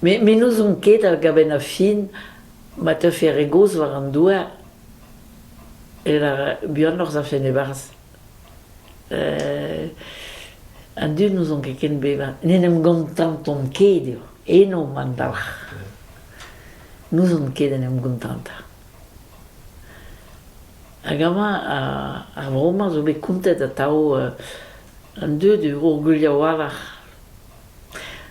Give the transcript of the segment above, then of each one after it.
Me me n'ouzon ket a-gabenn ar fin ma teufe re gozh war an douar eo buanoc'h zafen e-barzh. An dud n'ouzon ket ken bevañ. N'en em gontantont ket eo, eno an dalc'h. N'ouzon ket en em gontantañ. Hag amañ ar vro-mañ zo bet kontet atav an dud eo orgulh a-walc'h.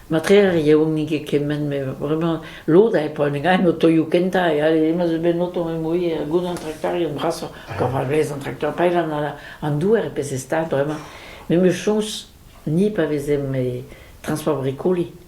Matre ar yaouank eo kement met bremañ lod eo poent en o taolioù kentañ e alle emañ zo bet noto mui gouzout an traktorioù brasoc'h kaout a rez an traktor paellañ an douar e peseurt stad bremañ. Me 'm eus soñj ni pa vezemp e trañsport brikoli.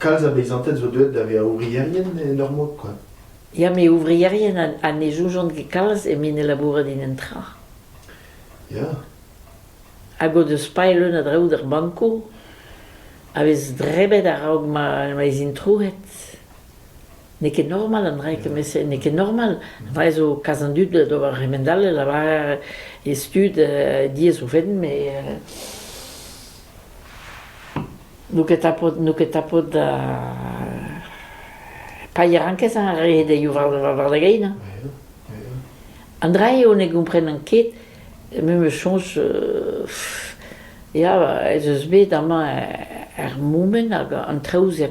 Kalz a beizanted zo deuet da vezañ ouvrierien en ur mod kwa. Ya met ouvrierien ha ne soujont ket kalz evit ne labourat en un tra. Ya. Hag o deus paeet leun a draoù d'ar bankoù a vez drebet a-raok ma ma ez int trouet. N'eo ket normal an dra kement-se, n'eo ket normal. Va ez eo kalz an dud d'ober re-mend all, e lavar e stud diaes o fenn, met... N'out ket tapet n'out ket tapet paeañ ket a rae dezhi war da gein. An dra eo ne gomprenan ket, me 'meus soñj ya ez eus bet amañ er Moumen hag an traoù-se.